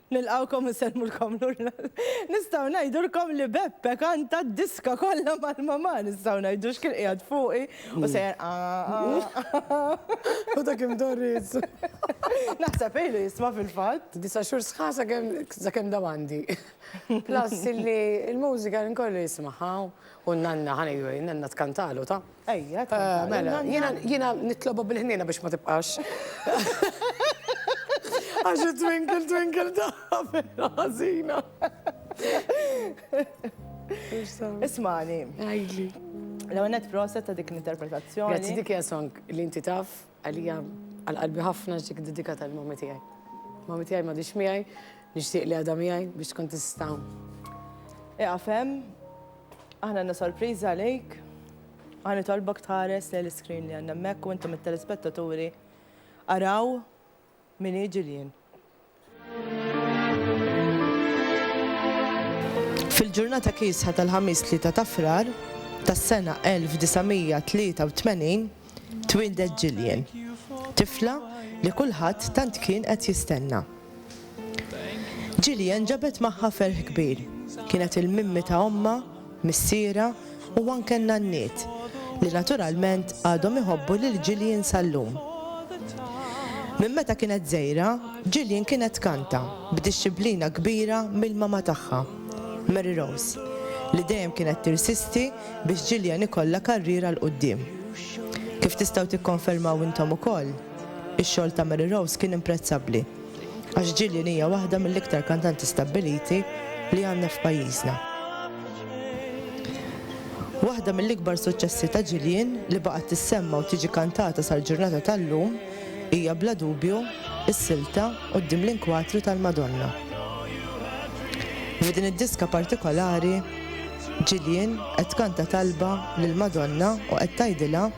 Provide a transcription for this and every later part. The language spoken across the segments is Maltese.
Nilqawkom u nsellmulkom lura. Nistgħu ngħidulkom li Beppe kanta d-diska kollha mal-mamà nistgħu ngħidu x'kien qiegħed fuqi u sejjer U dak imdorriż. Naħseb ilu jisma' fil-fatt. Disa' xhur sħaħ sakemm dawn għandi. Plus illi l-mużika jien kollu jismagħha u n-nanna ħa ngħidu hekk, in-nanna tkantalu ta'. Ejja, tkantalna. Mela, jiena jiena nitlobha bil-ħniena biex ma tibqax. Għax it-twinkle twinkle tagħha vera ħażina. Ismani. Għidli. L-ewwel nett proset ta' dik l-interpretazzjoni. Grazzi dik hija song li inti taf. Għalija għal qalbi ħafna ġiek iddedikata lil mommy tiegħi. Mommy tiegħi m'għadhiex miegħi, nixtieq li għadha miegħi biex tkun tista' Ieqaf hemm, aħna għandna sorpriża għalik. Ħa nitolbok tħares lejn l-iscreen li għandna hemmhekk u intom it-telespettaturi araw Min hi Gillian? Fil-ġurnata kiesħa tal-Ħamis 3 ta' Frar tas-sena 1983 twieldet Gillian, tifla li kulħadd tant kien qed jistenna. Gillian ġabet magħha ferħ kbir. Kienet il-mimmi ta' ommha missierha u anke n-nanniet, li naturalment għadhom iħobbu lil Gillian sal-lum. Minn meta kienet żgħira, Gillian kienet tkanta b'dixxiplina kbira mill-mama tagħha, Mary Rose, li dejjem kienet tirsisti biex Gillian ikollha karriera 'l quddiem. Kif tistgħu tikkonfermaw intom ukoll, ix-xogħol ta' Mary Rose kien imprezzabbli. Għax Gillian hija waħda mill-iktar kantanti stabbiliti li għandna f'pajjiżna. Waħda mill-ikbar suċċessi ta' Gillian li baqgħet tissemma u tiġi kantata sal-ġurnata tal-lum hija bla dubju s-silta quddiem l-inkwatru tal-Madonna. F'din id-diska partikolari, Gillian qed tkanta talba lill-Madonna u qed tgħidilha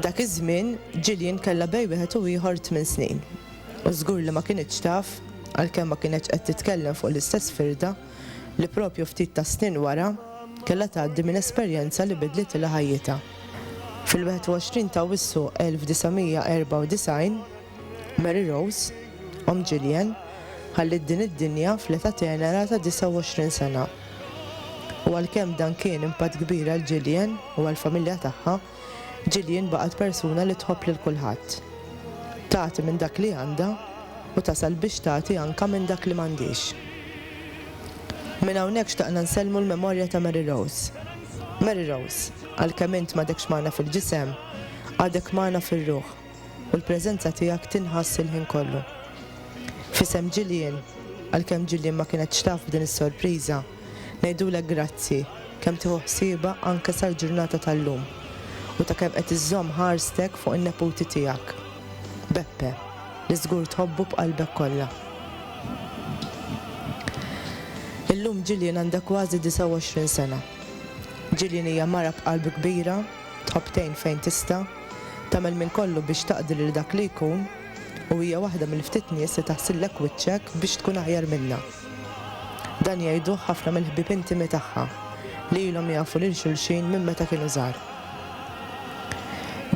Dak iż-żmien, Gillian kellha bejn wieħed u ieħor tmien snin, u żgur li ma kinitx taf, għalkemm ma kinetx qed titkellem fuq l-istess firda, li proprju ftit tas-snin wara, kellha tgħaddi minn esperjenza li bidlitilha ħajjitha. Fil-21 t'Awwissu 1994, Mary Rose, omm Gillian, ħalliet din id-dinja fl-età tenera ta' 29 sena. U għalkemm dan kien impatt kbir għal Gillian u għall-familja tagħha, Gillian baqgħet persuna li tħobb lil kulħadd. Tagħti minn dak li għandha u tasal biex tagħti anke minn dak li m'għandhiex. Minn hawnhekk xtaqna nsellmu l-memorja ta' Mary Rose. Mary Rose, għalkemm int m'għadekx magħna fil-ġisem, għadek magħna fir-ruħ. u l-preżenza tiegħek tinħass il-ħin kollu. F'isem Jillian, għalkemm Jillian ma kienetx taf b'din is-sorpriża, ngħidulek grazzi kemm tieħu ħsiebha anke sal-ġurnata tal-lum u ta' kemm qed iżżomm ħarstek fuq in-neputi tiegħek. Beppe, li żgur tħobbu b'qalbek kollha. Illum Jillian għandha kważi 29 sena. Jillian hija mara b'qalb kbira, tħobb tgħin fejn tista', Tagħmel minn kollu biex taqdi lil dak li jkun u hija waħda mill-ftit nies li taħsillek wiċċek biex tkun aħjar minnha. Dan jgħiduh ħafna mill-ħbieb intimi tagħha li ilhom jafu lil xulxin minn meta kienu żgħar.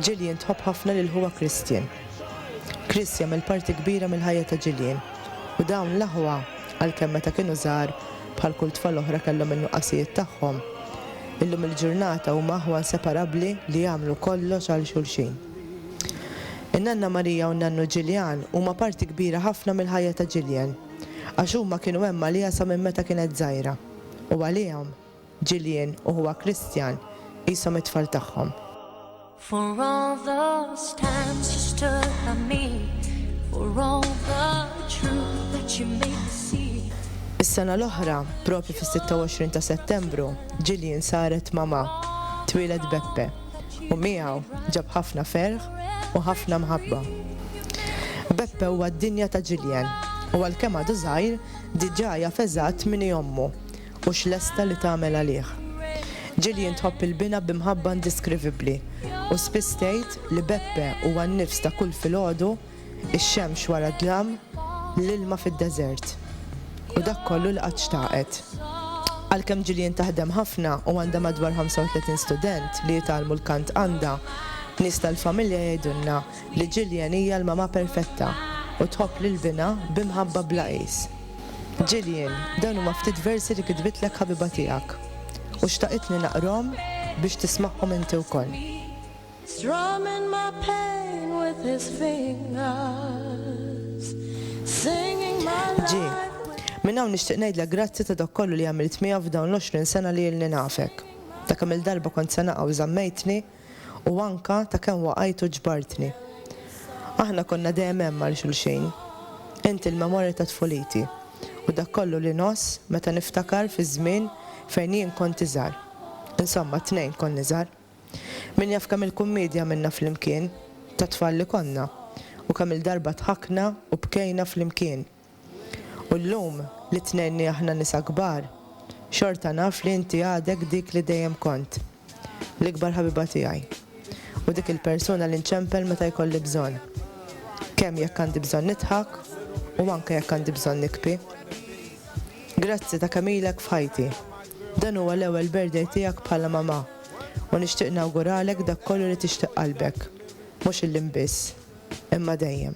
Jillian tħobb ħafna lil ħuha Christian. Chris jagħmel parti kbira mill-ħajja ta' Jillian u dawn l-aħwa, għalkemm meta kienu żgħar, Bħal kull tfal oħra kellhom in-nuqqasijiet tagħhom. Illum il-ġurnata huma aħwa nseparabbli li jagħmlu kollox għal xulxin. In-Nanna Maria u n-Nannu Jillian huma parti kbira ħafna mill-ħajja ta' Jillian għax huma kienu hemm għaliha sa minn meta kienet żgħira u għalihom, Jillian u ħuha Christian qishom it-tfal tagħhom. For all those times you stood by me, for all the truth that you made me see. Is-sena l-oħra, propju fis-26 ta' Settembru, Jillian saret mama, twieled Beppe, u miegħu ġab ħafna ferħ u ħafna mħabba. Beppe huwa d-dinja ta' Jillian u għalkemm għadu żgħir, diġà jaf eżatt min hi ommu hux lesta li tagħmel għalih. Gillian tħobb il-bina bi mħabba indiskrivibbli u spiss tgħid li Beppe huwa n-nifs ta' kull filgħodu, ix-xemx wara d-dlam, l-ilma fid-deżert, u dak kollu li qatt xtaqet. Għalkemm Gillian taħdem ħafna u għandha madwar 35 student li jitgħallmu l-kant għandha, nies tal-familja jgħidulna li Gillian hija l-mamà perfetta u tħobb lill-bina bi mħabba bla qis. Gillian, dawn huma ftit versi li kitbitlek ħabiba tiegħek u xtaqitni naqrahom biex tismagħhom inti wkoll. G, Minn hawn nixtieq ngħidlek grazzi ta' dak kollu li għamilt miegħi f'dawn l-għoxrin sena li ilni nafek. Ta' kemm-il darba kont se naqa' u żammejtni. u anke ta' kemm waqajt u ġbartni. Aħna konna dejjem hemm għal xulxin. Int il-memorja ta' tfuliti u dak kollu li ngħożż meta niftakar fiż-żmien fejn jien kont iżgħar. Insomma, t-tnejn konna iżgħar. Min jaf kemm il-kummiedja għamilna flimkien, ta' tfal li konna, u kemm-il darba dħakna u bkejna flimkien. U llum, li tnejn aħna nisa kbar, xorta naf li inti għadek dik li dejjem kont. L-ikbar ħabiba tiegħi. U dik il-persuna li nċempel meta jkolli bżonn. Kemm jekk għandi bżonn nidħak u anke jekk għandi bżonn nikbi. Grazzi ta' kemm ilek f'ħajti. Dan huwa l-ewwel birthday tiegħek bħala mamà u nixtieq nawguralek dak kollu li tixtieq qalbek. Mhux illum biss, imma dejjem.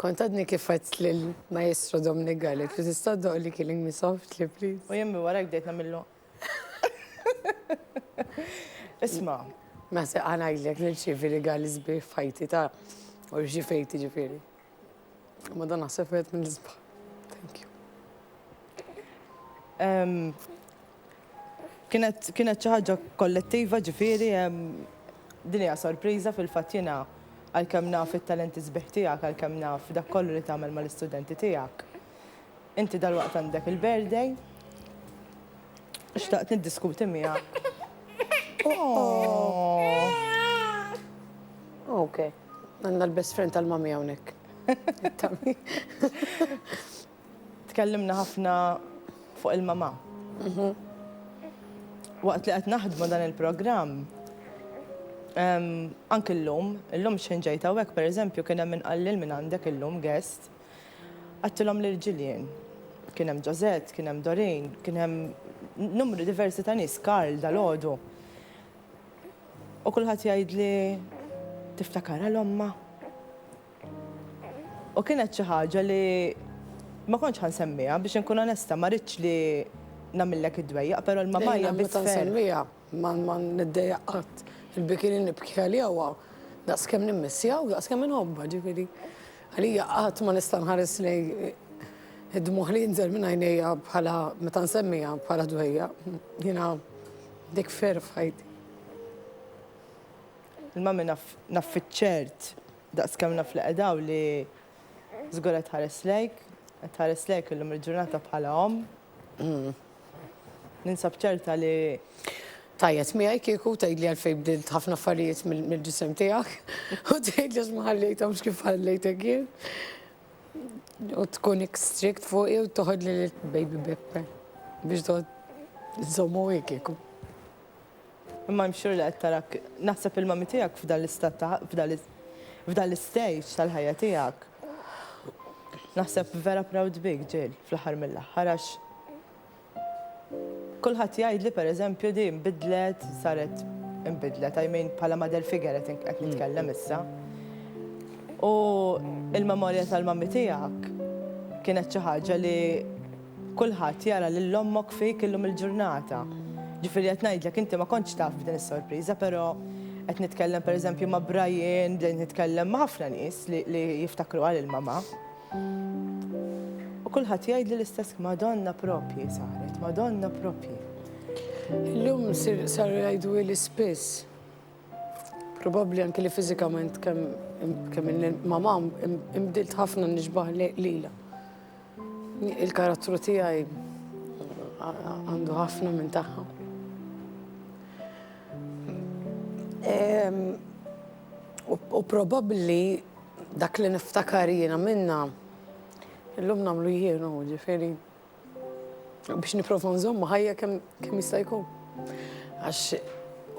Kont għadni kif għedt lill-Maestro Dominic Gallet li tista' ddoq li killing me softly please. U jemmi wara bdejt nagħmillu. Isma'. Ma se ngħidlek nirċievi rigali sbieħ f'ħajti ta' u rċivejt jiġifieri. Ma dan naħseb wieħed mill-isbaħ. Thank you. Kienet kienet xi ħaġa kollettiva ġifieri din hija sorpriża fil-fatt jiena għalkemm naf it-talenti sbieħ tiegħek għalkemm naf dak kollu li tagħmel mal-istudenti tiegħek. Inti dalwaqt għandek il-birthday u xtaqt niddiskuti miegħek. Okej. Għandna l-best friend tal-mommy hawnhekk. Tkellimna ħafna fuq il-mamà. Waqt li qed naħdmu dan il-programm, anki llum, illum xħin ġejt hawnhekk pereżempju kien hemm min qal lil min għandek illum guest, għadtilhom lil Gillian. Kien hemm Josette, kien hemm Doreen, kien hemm numru diversi ta' nies, Karl dalgħodu. U kulħadd jgħidli, tiftakar għal ommha? U kienet xi ħaġa li ma kontx ħa nsemmiha biex inkun onesta, ma ridtx li nagħmillek id-dwejjaq, però l-mamajja biss ferħ. Meta nsemmiha ma niddejjaq qatt. Il-biki li nibki għaliha huwa daqs kemm nimmissja u daqs kemm inħobbha, ġifieri għalija qatt ma nista' nħares lejn id-dmugħ li jinżel minn għajnejja bħala meta nsemmiha bħala dwejjaq. Jiena dik ferħ f'ħajti. Il-mummy naf naf fiċ-ċert, daqs kemm naf li qed hawn li żgur qed tħares lejk, qed tħares lejk illum il-ġurnata bħala omm. Ninsab ċerta li. Tgħajjat miegħi kieku tgħidli għalfejn bdilt ħafna affarijiet mill-ġisem tiegħek u tgħidli għax ma ħallejthomx kif ħallejtek jien. U tkun strict fuqi u toħodli lil baby Beppe biex toħod nżommu kieku. Imma I'm sure li qed tarak, naħseb il-mommy tiegħek f'dan l-istat ta' f'dan l-istage tal-ħajja tiegħek. Naħseb vera proud bik Jill fl-aħħar mill-aħħar għax kulħadd jgħidli per eżempju di nbidlet, saret inbidlet, I mean bħala mother figure qed nitkellem issa. U l-memorja tal-mommy tiegħek kienet xi ħaġa li Kulħadd jara lil ommok fik illum il-ġurnata. Ġifieri qed ngħidlek inti ma kontx taf b'din is-sorpriża però qed nitkellem pereżempju ma' Brian, bdejt nitkellem ma' ħafna nies li li jiftakruha lil mamà. U kulħadd jgħidli l-istess Madonna proprji saret, Madonna proprji. Illum saru jgħiduli spiss. Probabbli anki li fiżikament kemm kemm mamà inbdilt ħafna nixbah lilha. Il-karattru tiegħi għandu ħafna minn tagħha. U probabbli dak li niftakar jiena minna illum nagħmlu jienu ġifieri biex nipprova nżomma ħajja kemm jista' jkun. Għax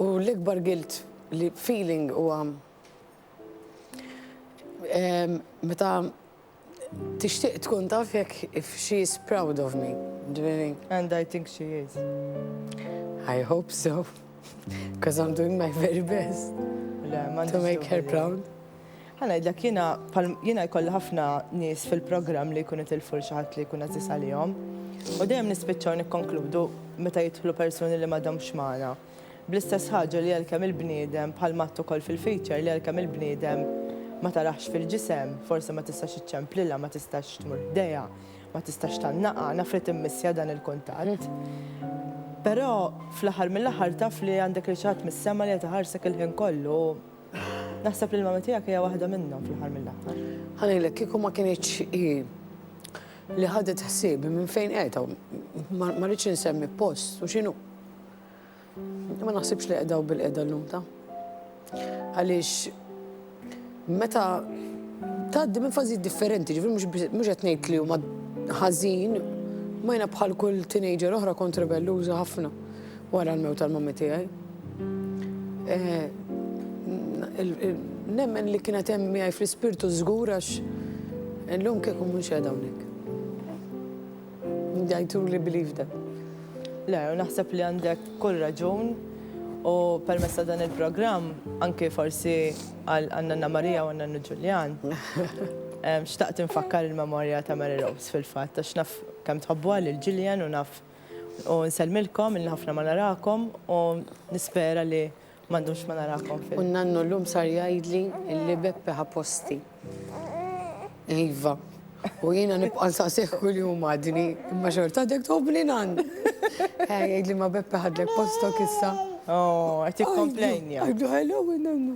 u l-ikbar gilt li feeling huwa meta Tixtieq tkun taf jekk if she is proud of me, ġifieri. And I think she is. I hope so, because I'm doing my very best to make her proud. Ħa ngħidlek jiena jiena jkolli ħafna nies fil-programm li jkunu tilfu xi ħadd li jkun għażiż għalihom. U dejjem nispiċċaw nikkonkludu meta jidħlu persuni li m'għadhomx magħna. Bl-istess ħaġa li għalkemm il-bniedem, bħal Matt ukoll fil-feature, li għalkemm il-bniedem ma taraħx fil-ġisem, forsi ma tistax iċċemplilha, ma tistax tmur ħdejha, ma tistax tgħannaqha, naf li timmissja dan il-kuntatt. Però fl-aħħar mill-aħħar taf li għandek lil xi ħadd mis-sema li qed iħarsek il-ħin kollu u naħseb li l-mamma tiegħek hija waħda minnhom fl-aħħar mill-aħħar. Ħa ngħidlek, kieku ma kinitx hi li ħadet ħsiebi minn fejn qiegħda, ma rridx insemmi post u x'inhu. Ma naħsibx li qedaw bil-qeda l-lum ta' għaliex meta tgħaddi minn fażijiet differenti, ġifri mhux qed ngħid li huma ħażin, ma jna bħal kull teenager oħra kont rebelluża ħafna wara l-mew tal-mammi tiegħi. Eh, nemmen li kienet hemm miegħi fl-ispirtu żgur għax illum kieku mhux hawnhekk. Jgħiduli believe them. Le, naħseb li għandek kull raġun u permezz ta' dan il-programm anke forsi għal Nanna Marija u Nannu Ġuljan. Xtaqt infakkar il-memorja ta' Mary Rose fil-fatt għax naf kemm tħobbuha lil Gillian u naf u nsellmilkom illi ħafna ma narakom u nispera li Ma ddumx ma narakom fil. U n-nannu llum sar jgħidli li Beppe ħa posti. Iva. U jiena nibqa' nsaqsih kuljum għadni, imma xorta għadek tħobbni nann. Ħa jgħidli ma Beppe ħadlek postok issa. Oh, qed jikkomplejnja. Għidlu hello nannu.